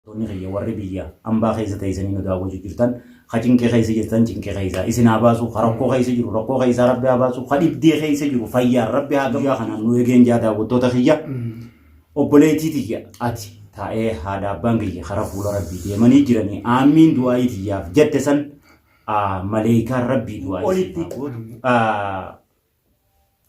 Toonni kiyya warri biyya ambaa keessa teeysanii nu daawwachuu jirtan ka cinqii keessa jirtan cinqii keessaa isin haa baasu ka rakkoo keessa jiru rakkoo keessaa rabbi haa baasu ka dhibdee keessa jiru fayyaan rabbi haa guyyaa kanaan nu eegeen jaa daawwattoota kiyya obboleettii tiyya ati taa'ee haadha abbaan kiyya karaa fuula rabbii deemanii jiranii aamiin du'aayii tiyyaaf jette san maleeykaan rabbii du'aayii olitti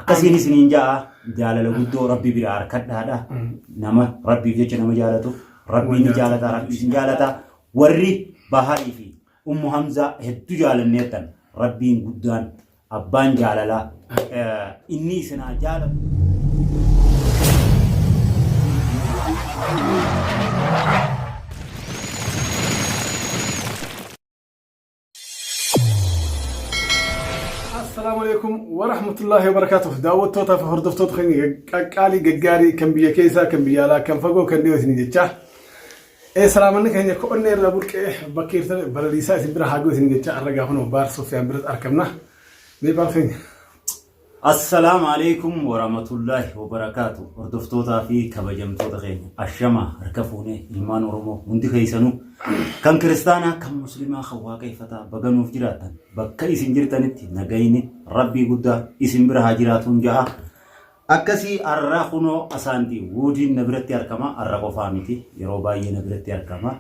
Akkasiin isiniin ja'a jaalala guddoo rabbi biraa harkadhaadha. Nama rabbiif jecha nama jaalatu rabbiin ni jaalata rabbiis ni jaalata. Warri Baharii fi Ummu Hamzaa hedduu jaalanneettan rabbiin guddaan abbaan jaalalaa eh, inni isinaa jaalatu. Assalaamu alaikum wa rahmatullahi wa barakaatuh. Daawwattootaa fi hordoftoota keenya qaqqaalii gaggaarii kan biyya keessaa kan biyya alaa kan fagoo kan dhiyoo isin jechaa. Ee salaamanni keenya ko'onnee irraa burqee bakka irtan balaliisaa isin bira haagoo isin jechaa arra gaafanoo baar Sofiyaan biratti argamna. Mee baar keenya. Assalam Aleeykum Woramatullahi Wobarakatuh Hordoftootaa fi kabajamtoota keenya Ashama harka fuunee ilmaan Oromoo hundi keessanuu kan kiristaanaa kan muslimaa kan waaqeffataa baga nuuf jiraattan bakka isin jirtanitti nagayni rabbii guddaa isin bira haa jiraatuun ja'a akkasii arra kunoo asaanti wuudiin na biratti argama arra qofaa miti yeroo baay'ee na biratti argama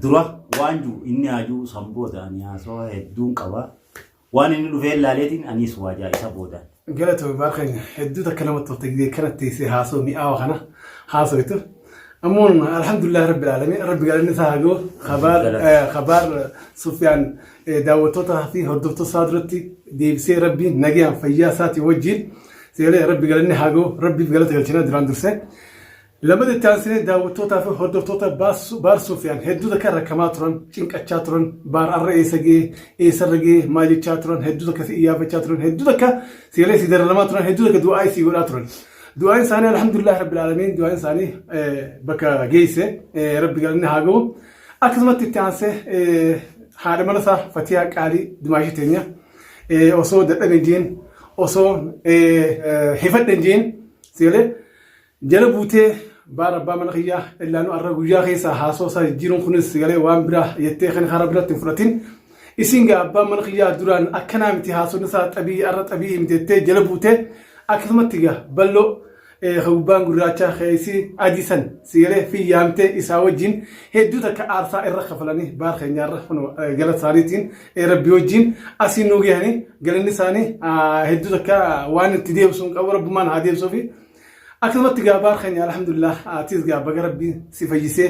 Dura waan jiru inni haa jiru san booda ani haasawaa hedduun qaba. Waan inni dhufee ilaaleetiin anis waajaa isa booda. Galatoomi baar keenya hedduu takka namatti tolta gidee kanatti teessee haasoo mi'aawa kana haasawitu. Ammoo alhamdulillah rabbil aalamiin rabbi galanni isaa haa gahu kabaar eh, kabaar Sufyaan eh, daawwattootaa fi hordoftoota isaa duratti deebisee rabbi nagayaan fayyaa isaatii wajjin seelee rabbi galanni haa gahu rabbiif galata galchina duraan dursee. Lamada itti aansinee daawwattootaa fi hordoftoota Baar Sufiyaan hedduuta kan rakkamaa turan, cinqachaa turan, Baar arra eessa ga'e, eessarra ga'e, maal jechaa turan, hedduuta akka si iyyaafachaa turan, hedduuta akka seelee si dararamaa turan, hedduuta akka du'aa'ii si godhaa turan. Du'aa'iin isaanii alhamdulillah rabbil aalamiin du'aa'iin isaanii bakka geesse rabbi galanni haa ga'u. Akkasumatti itti aansee haadha mana isaa Fatiyaa Qaalii Dimaashii teenya osoo dadhabe jeen osoo hifadhe jeen seelee Jala buutee baar abbaa mana kiyyaa illaanu arra guyyaa keessaa haasoo isaa jijjiiruun kunis galee waan biraa jettee kan karaa biratti hin fudhatin. Isin gaa abbaan mana kiyyaa duraan akkanaa miti haasonni isaa xabii arra xabii miti jettee jala buutee akkasumatti gaa balloo ka gubbaan gurraachaa keessi adii san si galee fi yaamtee isaa wajjin hedduu takka aarsaa irra kafalanii baar keenyaarra gala isaaniitiin rabbi wajjin asii nuu gahanii galanni isaanii hedduu takka waan itti deebisuun qabu rabbumaan haa deebisuufi. Akkasumatti gaa baar keenya alhamdulillah atis gaa baga rabbiin si fayyisee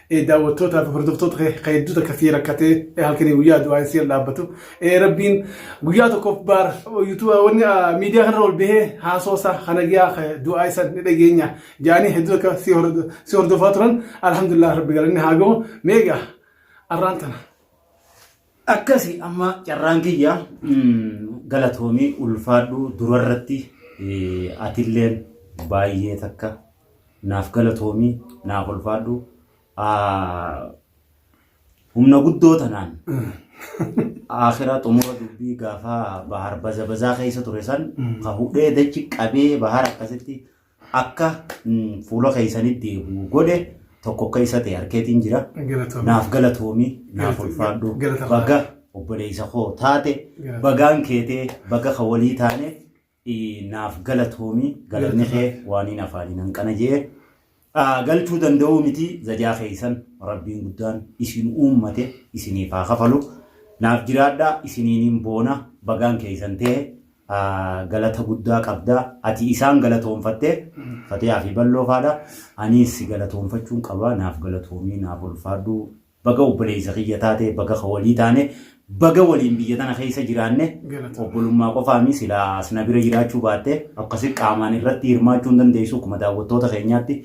eh, daawwattootaa fi hordoftoota kee kan hedduu takka sii rakkatee eh, halkanii guyyaa du'aa sii dhaabbatu Eh, rabbiin guyyaa tokkoof baar yuutuuba wanni ah, miidiyaa kanarra ol bahee haasoo isaa kana giyaa kan du'aa isa ni dhageenya jaanii hedduu takka sii hordo- sii hordofaa turan alhamdulillah rabbi galanni haa gahu meegaa arraan tana. Akkasi amma carraan kiyya galatoomii ulfaadhu durarratti atilleen baay'ee takka naaf galatoomii naaf ulfaadhu humna guddoo tanaan akhiraa xumura dubbii gaafa bahar baza bazaa keessa ture san ka hudhee dachi qabee bahar akkasitti akka fuula keessanii deebi'u godhe tokko akka isa ta'e harkeetiin jira. Naaf galatoomi naaf ulfaadhu baga obboleessa koo taate bagaan keetee baga ka walii taane naaf galatoomi galanni kee waaniin afaaniin hanqana jee galchuu danda'uu miti zajaa keessan rabbiin guddaan isin uummate isiniif haa kafalu naaf jiraadhaa isiniiniin boona bagaan keessan ta'e galata guddaa qabda. Ati isaan galatoonfatte Fatiyaa fi Balloo faadha. Aniis si galatoonfachuun qaba. Naaf galatoomii, naaf ulfaadhu. Baga obboleessa kiyya taate, baga ka walii taane, baga waliin biyya tana keessa jiraanne. Galatoomii. Obbolummaa qofaami silaa as na bira jiraachuu baatte akkasi qaamaan irratti hirmaachuu hin dandeessu akkuma daawwattoota keenyaatti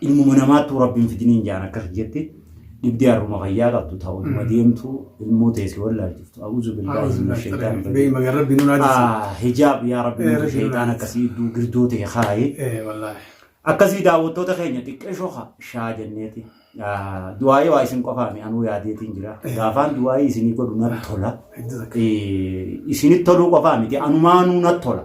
Ilmuma namaattuu rabbi hin fidiniin jaan akkas jetti. Dhibdee harruma fayyaa qabdu ta'u dhuma deemtu ilmoo teessi wallaalchiftu. A'uuzu billaahi min shaytaan Bee magan rabbi nun haadisi. Hijaab yaa rabbi Eh, nuuf rabbi shaytaan nuuf akkasii iddoo girdoo ta'e kaaye. Eh wallahi. Akkasii daawwattoota keenya xiqqeeshoo ha- shaa jenneeti. Ah, Du'aayii waa isin qofaami anuu yaadeetiin jira. Gaafaan du'aayii isinii godhu natti tola. Hedduu takka. Eh, Isinit toluu qofaa miti anumaanuu natti tola.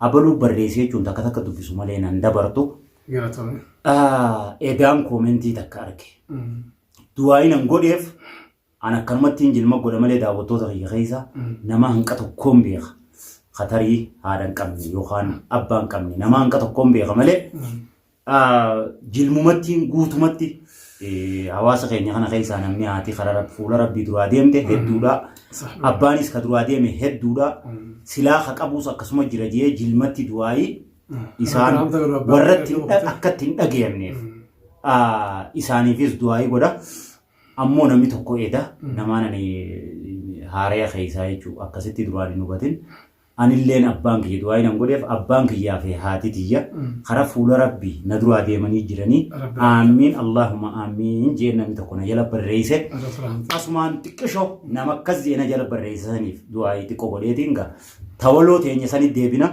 Abaluu barreesse jechuun takka takka dubbisu malee nan dabartu. Galatoomi. Ah, Edaan koomentii takka arge. Du'aayi nan godheef an akkanumatti hin jilma godha malee daawwattoota kiyya keessa nama hanqa tokkoon beeka. Katarii haadha hin qabne yookaan abbaa hin qabne nama hanqa tokkoon beeka malee jilmumattiin guutumatti hawaasa keenya kana keessaa namni haati karaa fuula rabbii duraa deemte hedduudha. Abbaanis ka duraa deeme hedduudha. Silaa ka qabus akkasuma jira jee jilmatti du'aayii isaan warratti akkatti hin dhagayamneef isaaniifis du'aayii godha. Ammoo namni tokko eeda namaan ani haaraya keessaa jechuudha akkasitti duraan hin hubatin. anilleen abbaan kiyya du'aa'ii nan godheef abbaan kiyyaa fi haatii tiyya kara fuula rabbi na duraa deemanii jiranii aammiin allaahuma aammiin jeen namni tokko na jala barreeyse asumaan xiqqisho nama akkas jee na jala barreeyse saniif du'aa'ii xiqqo godheetiin ga tawaloo teenya sanitti deebina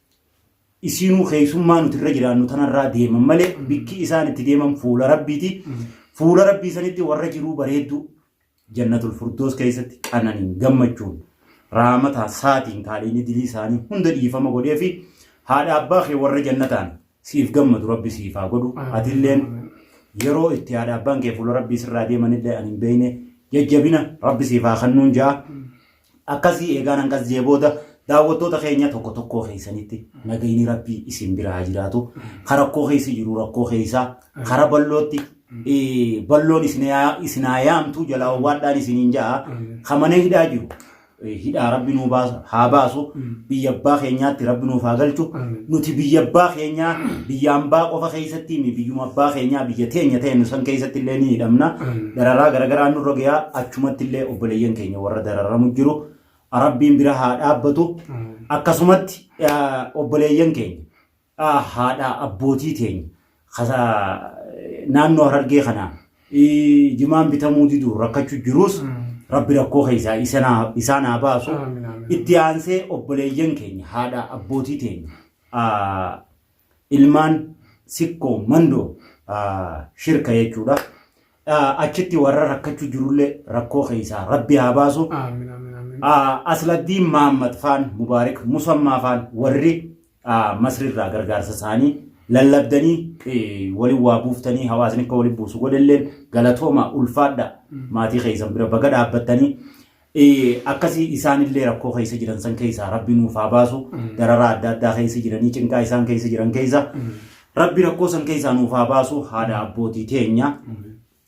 isiinuu keessummaa nuti irra jiraannu tanarraa deeman malee bikki isaan itti deeman fuula rabbiiti. Fuula rabbii sanitti warra jiruu bareedduu jannatul furdoos keessatti qananiin gammachuun raamataa saatiin kaaliinni dilii isaanii hunda dhiifama godhee fi haadha abbaa kee warra jannataan siif gammadu rabbi siif haa godhu atilleen yeroo itti haadha abbaan kee fuula rabbii sirraa deemanillee ani hin beekne jajjabina rabbi siif haa kennuun ja'a. Akkasii eegaan hangas jee booda daawwattoota keenya tokko tokkoo keessanitti nagayni rabbii isin bira haa jiraatu. Ka rakkoo keessa jiru rakkoo keessa kara ballootti balloon isin haa yaamtu jalaa owwaadhaan isiniin ja'a. Ka mana hidhaa jiru hidhaa rabbi nuu baasu haa baasu biyya abbaa keenyaatti rabbi nuuf haa galchu. Nuti biyya abbaa keenyaa biyya ambaa qofa keessatti mi biyyuma abbaa keenyaa biyya teenya ta'e nu san keessatti illee ni hidhamna. Dararaa garagaraa nurra gayaa achumatti illee obboleeyyan keenya. warra dararamu jiru rabbiin bira haa dhaabbatu akkasumatti obboleeyyan keenya haadha abbootii teenya naannoo harargee kanaa jimaan bitamuu diduun rakkachuu jiruus rabbi rakkoo keessaa isaan haa baasu itti aansee obboleeyyan keenya haadha abbootii teenya ilmaan sikkoo mandoo shirka jechuudha. Achitti warra rakkachuu jirullee rakkoo keessaa rabbi haa baasu. Asladdiin Mahammad faan Mubaarik Musammaa faan warri Masrirraa gargaarsa isaanii lallabdanii waliin waa buuftanii hawaasni akka waliin buusu godhelleen galatoomaa ulfaadha maatii keessan bira baga dhaabbattanii Akkasii isaan illee rakkoo keessa jiran san keessaa rabbi nuuf haa baasu dararaa adda addaa keessa jiranii cinqaa isaan keessa jiran keessa rabbi rakkoo san keessaa nuuf haa baasu haadha abbootii teenya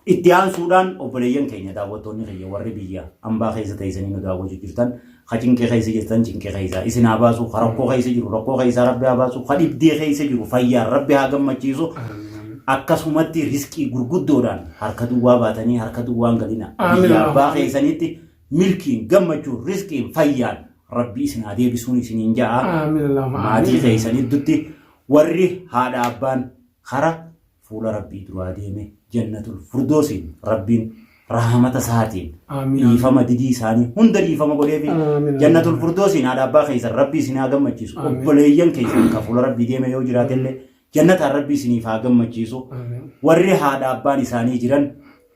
itti aansuudhaan obboleeyyan keenya daawwattoonni keenya warri biyya ambaa keessa teessanii nu daawwachuu jirtan ka cinqee keessa jirtan cinqee keessaa isin haa baasu ka rakkoo keessa jiru rakkoo keessaa rabbi haa baasu ka dhibdee keessa jiru fayyaan rabbi haa gammachiisu akkasumatti riskii gurguddoodhaan Harka duwwaa baatanii harka duwwaan galina. Aamin, Biyya abbaa aamin. keessanitti milkiin, gammachuun, rizqiin, fayyaan Rabbi isin haa deebisuun isiniin ja'a. Aamin Allahumma Maatii aamin. keessan gidduutti warri haadha abbaan kara fuula Rabbii duraa deeme jannatul furdoosiin Rabbiin rahamata isaatiin Aamin. dhiifama didii isaanii hunda dhiifama godheefi Aamin. jannatul furdoosiin haadha abbaa keessan Rabbii isin haa gammachiisu Aamin. obboleeyyan keessan kan fuula Rabbii deeme yoo jiraatellee Jannataan Rabbi isiniif haa gammachiisu. Warri haadha abbaan isaanii jiran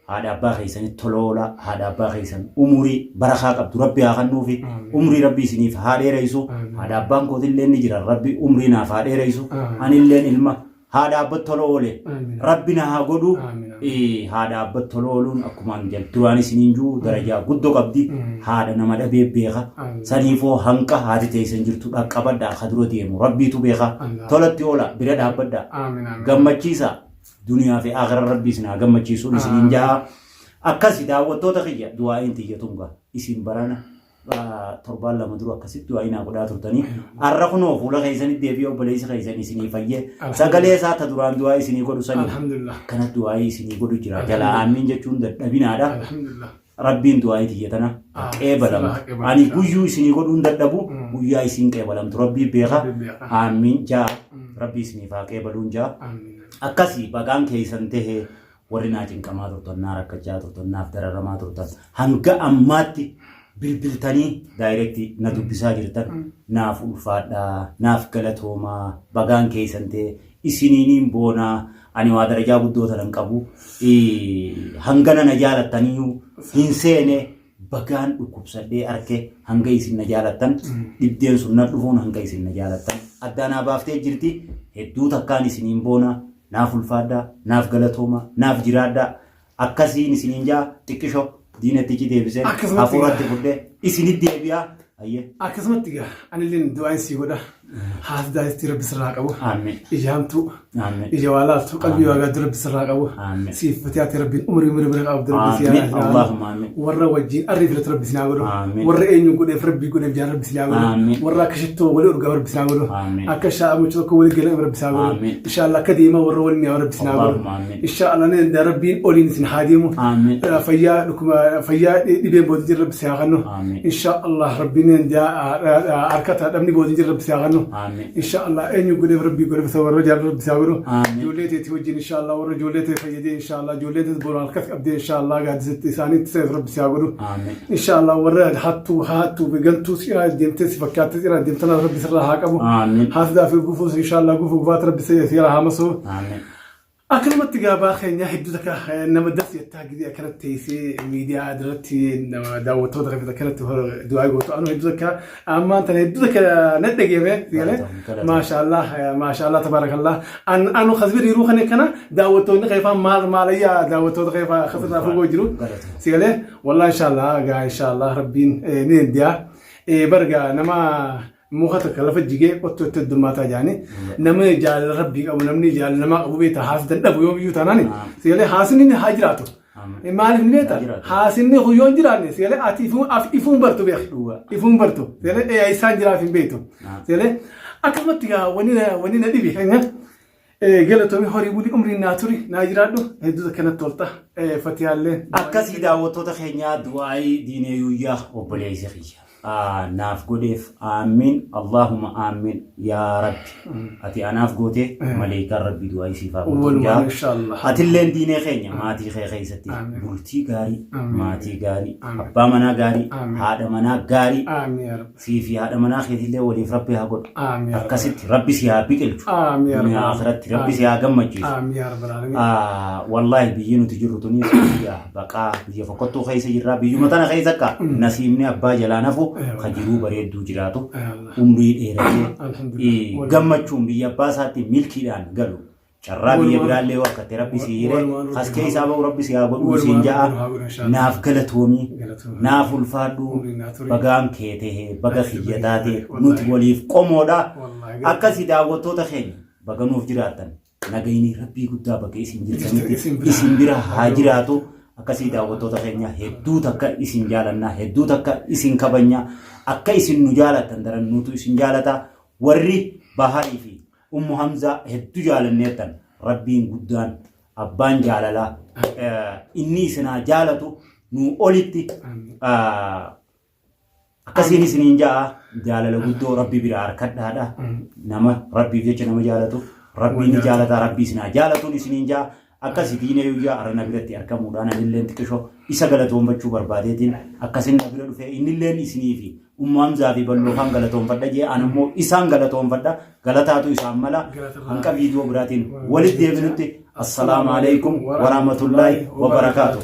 haadha abbaa keessanitti tola oolaa, haadha abbaa keessan umurii barakaa qabdu Rabbi haa kennuufi. Umrii Rabbi isiniif haa dheereessu. Haadha abbaan kootillee ni jiran Rabbi umrii naaf haa dheereessu. Anilleen ilma haadha abbatti tola oole Rabbi na haa godhu. haadha abbat tolooluun akkumaan jal duraan isiniin juu darajaa guddo qabdi haadha nama dhabee beeka saniifoo hanqa haati teessan jirtu dhaqqabadha akka dura deemu rabbiitu beeka tolatti oola bira dhaabbadha gammachiisa duniyaa fi akhiraa rabbii isin haa gammachiisuun isiniin jaha akkasi daawwattoota kiyya du'aa'iin tiyya tunga isin barana torbaan lama dura akkasitti du'aa inaa godhaa turtanii har'a kunoo fuula keessanitti deebi'ee obboleessi keessan isinii fayyee sagalee isaa ta duraan du'aa isinii godhu sanii Alhamdulillah. kana du'aa isinii godhu jira jalaa aamiin jechuun dadhabinaadha Alhamdulillah. rabbiin du'aa itiyya tana Ah, qeebalamu sirraa qeebalamtu. ani guyyuu isinii godhuun dadhabu Mm. guyyaa isiin qeebalamtu rabbii beeka Alhamdulillah. aamiin jaa Mm. rabbii isiniif haa qeebaluun jaa Amin. akkasii bagaan keessan tahee Warri naa cinqamaa turtan, naa rakkachaa turtan, naaf dararamaa turtan hanga ammaatti bilbiltanii daayireekti na dubbisaa jirtan naaf ulfaadhaa, naaf galatoomaa, bagaan keessan ta'e isiniiniin boonaa ani waa darajaa guddoo tana hin qabu. Hangana na jaalattaniyyuu hin seene Bagaan dhukkubsadhee arke hanga isin na jaalattan dhibdeen sun na dhufuun hanga isin na jaalattan addaa naa baaftee jirti hedduu takkaan isiniin boona naaf ulfaadhaa naaf galatooma naaf jiraadhaa akkasiin isiniin jaa xiqqisho diinatti icii deebiseen Akkasumatti hafuuratti fudhee isinitti deebi'aa Ayyee. Akkasumatti gaa anilleen du'aan sii godha. Haati daa'ittii rabbi sirraa qabu. Aameen. Ijaamtuu. Aameen. Ija waa laaftu qalbii waa gaaddu rabbi sirraa qabu. Aameen. Siif fatee ati rabbiin umurii umurii bira qabdu rabbi si Aameen. haa Allahumma aameen. Warra wajjin arrii filatu rabbi si naa godhu. Aameen. Warra eenyu godheef rabbi godheef jaan rabbi si naa godhu. Aameen. Warra akka shittoo walii urgaa rabbi si naa godhu. Aameen. Akka shaa'amu tokko walii galan rabbi si naa godhu. Aameen. Inshaallah akka deemaa warra waliin yaa rabbi si naa godhu. Allahumma aameen. Inshaallah ni danda'a rabbiin oliin isin haa deemu. Aameen. Fayyaa dhukkuba fayyaa dhibeen booda jira rabbi si haa kennu. Aamiin. insha Allah rabbineen harka taa dhabni boodin jira rabbi siyaa kannu Aamiin. insha Allah eenyu godheef rabbi godheef isa warra jaallu rabbi siyaa godhu Aamiin. ijoollee teeti wajjin insha Allah warra ijoollee tee fayyadee insha Allah ijoollee teeti boru harkas qabdee insha Allah gaadisitti isaaniitti seef rabbi siyaa godhu Aamiin. insha Allah warra hattuu haattuu begantuu siyaa deemtee si fakkaatti siyaa deemtan rabbi sirraa haa qabu Aamiin. haasdaa fi gufuus insha Allah gufuu gufaat rabbi siyaa haa masuu Aamiin. Akkanumatti gaabaa keenya hedduu takka eh, nama das jettaa gidii akkanatti teessee miidiyaa irratti nama daawwattoota kan akkanatti hor- du'aa gootu anu hedduu takka ammaan tana hedduu takka na dhageeme galee maashaallah eh, maashaallah tabaarakallah an anu kasbir yeroo kana kana daawwattoonni keefaa maal maalayyaa daawwattoota keefaa kasirraa fagoo jiru sigalee wallah inshaallah gaa inshaallah rabbiin eh, ni dandiyaa Eh, barga nama muka takka lafa jigee qottu itti heddummaataa jaanii namni jaalala rabbii qabu namni jaalala namaa qabu beektaa haasdan dhabu yoo biyyuu taanaan seelee haasni ni haa jiraatu. Maaliif ni beekta? Haasni kun yoo hin jiraanne seelee ati ifuun bartu beek. Ifuun bartu seelee eeyaa isaan jiraaf hin beektu. Seelee akkasumatti gaa wanni na dhibe. Galatomi horii buli umriin naa turi naa jiraadhu hedduu takka natti tolta fatiyaallee. Akkasii daawwattoota keenyaa du'aayii diinee yuuyyaa obboleessa kiyya. Aa, Naaf godheef aammiin Allaahuma aammiin yaa rabbi. Ati anaaf gootee maleekaan rabbi du'aayii siif haa godhu. Walumaan Yaa, inshaallah. Atilleen diinee keenya maatii kee keessatti Amiin. bultii gaarii, Amiin. maatii gaarii, Amiin. abbaa manaa gaarii, Amiin. haadha manaa gaarii. Aamiin yaa rabbi. sii fi haadha manaa keetillee waliif rabbi haa godhu Aamiin. akkasitti rabbi si haa biqilchu Aamiin. duniyaa akiratti rabbi si haa gammachiisu Aamiin yaa Rabbi Alamiin. Ah, wallaahi biyyi nuti jirru tuni biyya baqaa biyya fokkottuu keessa jirra biyyuma tana keessa akka nasiibni abbaa jalaa nafu ka jiruu bareedduu jiraatu Yaa Allah. umrii dheeratee Alhamdulillah. eh, gammachuun biyya abbaa isaatti milkiidhaan galu carraa biyya biraallee yoo akkatte rabbi si hire as keessaa ba'u rabbi si haa godhu siin ja'a naaf galatoomii naaf ulfaadhu bagaan kee ta'e baga kiyya taate nuti waliif qomoodha akkasii daawwattoota keenya baga nuuf jiraattan nagayni rabbii guddaa bakka isin jirtanitti isin bira haa jiraatu akkasii daawwattoota keenya hedduu takka isin jaalannaa hedduu takka isin kabanya akka isin nu jaalattan daran nutu isin jaalata warri baharii fi Ummu Hamzaa heddu jaalanneertan Rabbiin guddaan abbaan jaalalaa inni isinaa jaalatu nuu olitti akkasiin isiniin ja'a jaalala guddoo Rabbi bira harkadhaadha nama Rabbiif jecha nama jaalatu Rabbiin ni jaalataa Rabbi isinaa jaalatuun isiniin ja'a Akkasi Biinee Yuyyaa arra na biratti argamuudhaan anilleen xiqisho isa galatoonfachuu barbaadeetiin akkasin na bira dhufee innilleen isinii fi Ummu Hamzaa fi Balloofaan galatoonfadha jee an immoo isaan galatoonfadha galataatu isaan mala hanqa viidiyoo biraatiin walitti deebinutti assalaamu alaikum warahmatullaahi wabarakaatuh.